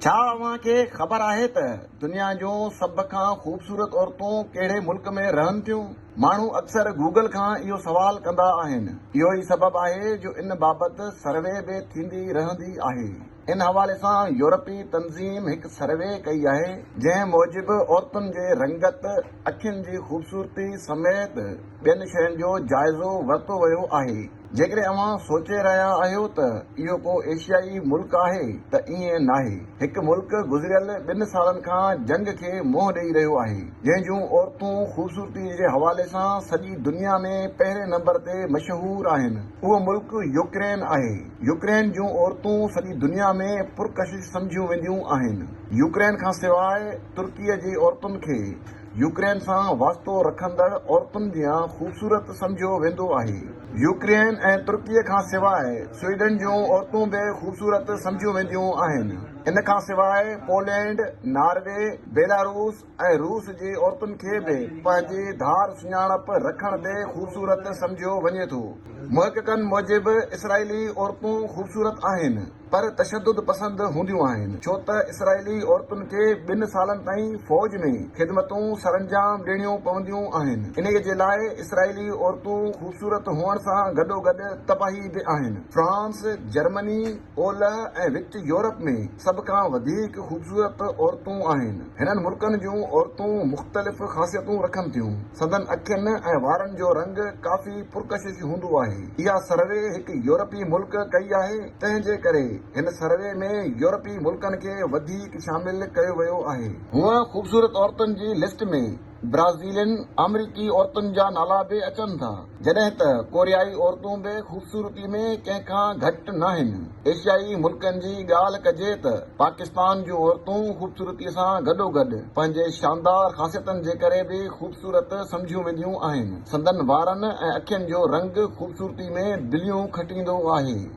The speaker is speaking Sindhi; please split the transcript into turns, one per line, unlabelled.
ڇا اوهان کي خبر آهي ته دنيا جون سڀ کان خوبصورت عورتون ڪهڙي ملڪ ۾ رهن ٿيون؟ ماڻهو اڪثر گوگل کان اهو سوال ڪندا آهن. اهو ئي سبب آهي جو ان بابت سروي به ٿيندي رهندي آهي. ان حوالي سان يورپي تنظيم هڪ سروي ڪئي آهي جنهن موجب عورتن جي رنگت، اکين جي خوبصورتي سميت، ٻين شين جو جائزو ورتو ويو آهي. جيڪڏهن اوهان سوچي رهيا آهيو ته اهو ڪو ايشيائي ملڪ آهي ته ائين ناهي. هڪ ملڪ گذريل ٻن سالن کان جنگ کي منهن ڏئي رهيو آهي، جنهن جون عورتون خوبصورتي جي حوالي سان سڄي دنيا ۾ پهرين نمبر تي مشهور آهن. اهو ملڪ يوڪرين آهي. يوڪرين جون عورتون سڄي دنيا ۾ پرڪشش سمجهيون وينديون آهن. يوڪرين کان سواء ترڪيء جي عورتن کي يوڪرين سان واسطو رکندڙ عورتن جيان خوبصورت سمجهيو ويندو آهي. يوڪرين ۽ ترڪي کان سواء سوئيڊن جون عورتون به خوبصورت سمجهيون وينديون آهن. ان کان سواء پولينڊ، ناروي، بيلاروس ۽ روس جي عورتن کي به پنهنجي ڌار سڃاڻپ رکڻ تي خوبصورت سمجهيو وڃي ٿو. محققن موجب اسرائيلي عورتون خوبصورت آهن. پر تشدد پسند هونديون آهن ڇو ته اسرائيلي عورتن کي ٻن سالن تائين فوج ۾ خدمتون سرانجام ڏيڻيون پونديون آهن انهي جي لاء اسرائيلي عورتون خوبصورت هئڻ سان گڏوگڏ تباهي به آهن فرانس جرمني اولهه ۽ وچ يورپ ۾ سڀ کان وڌيڪ خوبصورت عورتون آهن هنن ملڪن جون عورتون مختلف خاصيتون رکن ٿيون سندن اکين ۽ وارن جو رنگ ڪافي پرڪشش هوندو آهي اها سروي هڪ يورپي ملڪ ڪئي آهي تنهن جي ڪري هن سروي ۾ يورپي ملڪن کي وڌيڪ شامل ڪيو ويو آهي. هونء خوبصورت عورتن جي لسٽ ۾ برازيلين، آمريڪي عورتن جا نالا به اچن ٿا، جڏهن ته ڪوريائي عورتون به خوبصورتي ۾ ڪنهن کان گهٽ ناهن. ايشيائي ملڪن جي ڳالهه ڪجي ته پاڪستان جون عورتون خوبصورتي سان گڏوگڏ پنهنجي شاندار خاصيتن جي ڪري به خوبصورت سمجهيون وينديون آهن. سندن وارن ۽ اکين جو رنگ خوبصورتي ۾ بليون کٽيندو آهي.